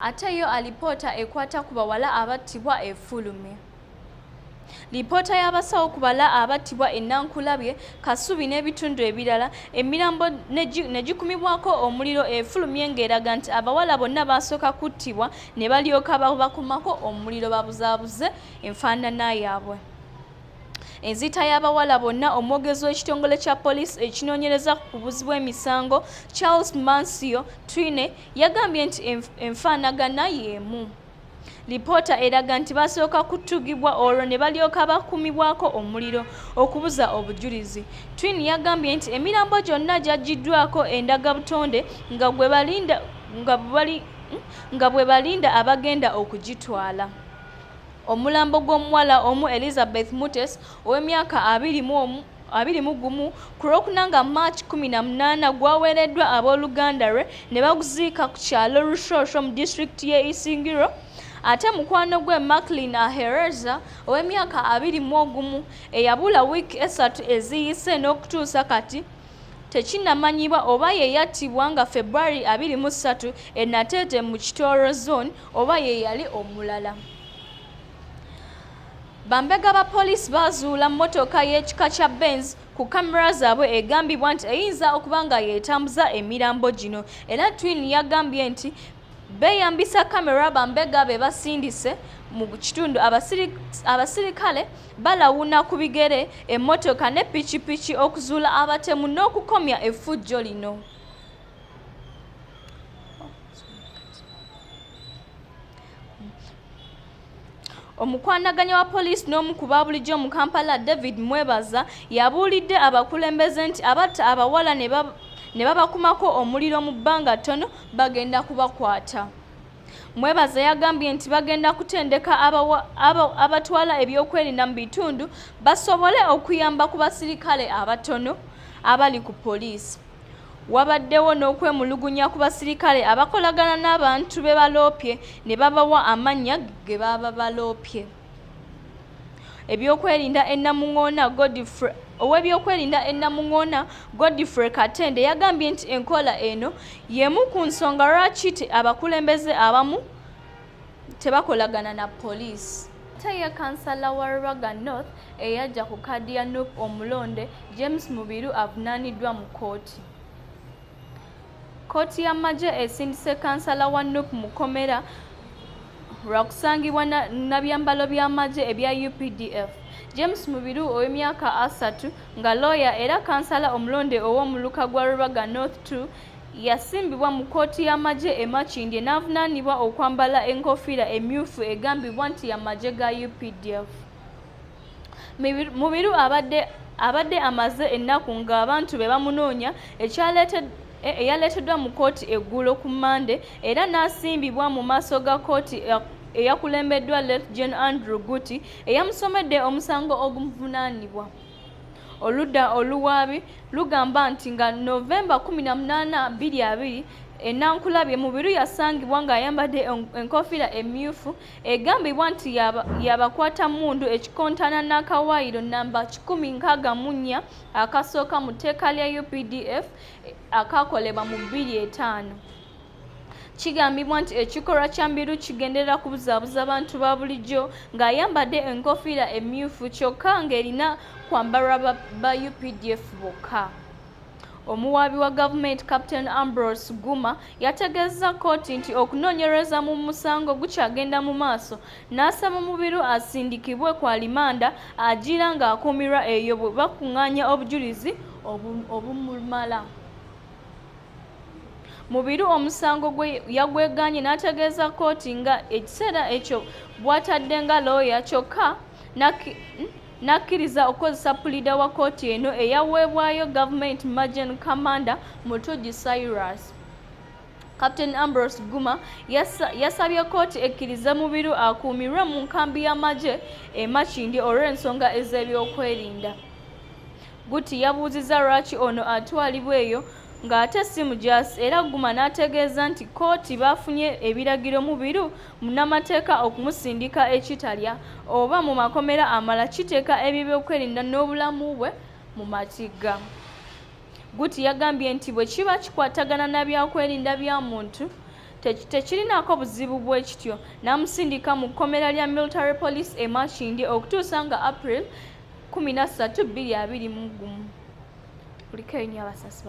Ate yo alipoota ekwata ku bawala abattibwa efulumye. Lipoota y'abasawo ku bala abattibwa e Nankulabye, Kasubi n'ebitundu ebirala, emirambo ne gikumibwako omuliro efulumye ng'eraga nti abawala bonna baasooka kuttibwa ne balyoka babakumako omuliro babuzaabuze enfaanana yaabwe. Enziita y'abawala bonna omwogezi w'ekitongole kya poliisi ekinoonyereza ku buzi bw'emisango Charles Mancio Twine yagambye nti enfaanagana y'emu. Lipoota eraga nti basooka kutugibwa olwo ne balyoka bakumibwako omuliro okubuza obujulizi. Twin yagambye nti emirambo gyonna gyaggiddwako endagabutonde nga gwe balinda nga bwe balinda abagenda okugitwala. Omulambo gw'omuwala omu Elizabeth Mutes ow'emyaka abiri mu omu abiri mu gumu ku lwokuna nga march kumi na munaana gwaweereddwa abooluganda lwe ne baguziika ku kyalo rushoosho mu disitulikiti y'e isingiro ate mukwano gwe macklin ahereza ow'emyaka abiri mu ogumu eyabula wiiki esatu eziyise n'okutuusa kati tekinamanyibwa oba ye yattibwa nga february abiri mu ssatu e nateete mu kitooro zone oba ye yali omulala bambega ba poliisi baazuula mmotoka y'ekika kya benz ku kamera zaabwe egambibwa nti eyinza okuba nga yeetambuza emirambo gino era twin yagambye nti beeyambisa kamera bambega be basindise mu kitundu abasirikale balawuna ku bigere emmotoka ne pikipiki okuzuula abatemu n'okukomya effujjo lino omukwanaganya wa poliisi n'omu ku baabulijjo mu kampala david mwebaza yabuulidde abakulembeze nti abatta abawala ne babakumako omuliro mu bbanga ttono bagenda kubakwata mwebaza yagambye nti bagenda kutendeka abatwala ebyokwerinda mu bitundu basobole okuyamba ku basirikale abatono abali ku poliisi Wabaddewo n'okwemulugunya ku basirikale abakolagana n'abantu be baloopye ne babawa amannya ge baba baloopye. Ebyokwerinda e Namungoona Godfrey Ow'ebyokwerinda e Namungoona, Godfrey Katende yagambye nti enkola eno y'emu ku nsonga lwaki abakulembeze abamu tebakolagana na poliisi ate ye kansala wa Rubaga North eyajja ku kaadi ya nup omulonde James Mubiru avunaaniddwa mu kkooti. Kkooti y'amagye esindise kansala wa nup mu kkomera lwa kusangibwa na byambalo by'amagye ebya UPDF. James Mubiru ow'emyaka asatu nga looya era kansala omulonde ow'omuluka gwa Rubaga North 2 yasimbibwa mu kkooti y'amagye e Makindye n'avunaanibwa okwambala enkofiira emmyufu egambibwa nti y'amagye ga updf mubiru abadde abadde amaze ennaku ng'abantu be bamunoonya e, eyaleeteddwa mu kkooti eggulo ku mmande era n'asimbibwa mu maaso ga kkooti eyakulembeddwa let gen andrew guti eyamusomedde omusango ogumuvunaanibwa Oludda oluwaabi lugamba nti nga November 18, 22, e Nankulabye, Mubiru yasangibwa ng'ayambadde enkofiira emmyufu egambibwa nti ya bakwatammundu ekikontana n'akawaayiro nnamba kikumi nkaaga mu nnya akasooka mu tteeka lya updf akaakolebwa mu bbiri etaano. Kigambibwa nti ekikolwa kya Mbiru kigenderera kubuzaabuza bantu ba bulijjo ng'ayambadde enkofiira emmyufu kyokka ng'erina kwambalwa ba updf bokka. Omuwaabi wa gavumenti Captain Ambrose Guma yategeezza kkooti nti okunoonyereza mu musango gukyagenda mu maaso n'asaba Mubiru asindikibwe ku alimanda agira ng'akuumirwa eyo bwe bakung'aanya obujulizi obumumala. Mubiru omusango gwe yagwegaanye n'ategeeza kkooti nga ekiseera ekyo bwatadde nga looya kyokka n'akkiriza okukozesa puliida wa kkooti eno eyaweebwayo gavumenti Majen Kamanda Mutujji Cyrus. Captain Ambrose Guma yasabye kkooti ekkirize Mubiru akuumirwe mu nkambi y'amagye e Makindye olw'ensonga ez'ebyokwerinda. Gutti yabuuzizza lwaki ono atwalibwa eyo ng'ate si mujaasi era Guma n'ategeeza nti kkooti baafunye ebiragiro mu biru munnamateeka okumusindika e Kitalya oba mu makomera amalala kiteeka eby'ebyokwerinda n'obulamu bwe mu matigga. Gutti yagambye nti bwe kiba kikwatagana na byakwerinda bya muntu tekirinaako buzibu bwe kityo n'amusindika mu kkomera lya Military Police e Makindye okutuusa nga April kumi na ssatu bbiri abiri mu gumu kuliko enyo abasasi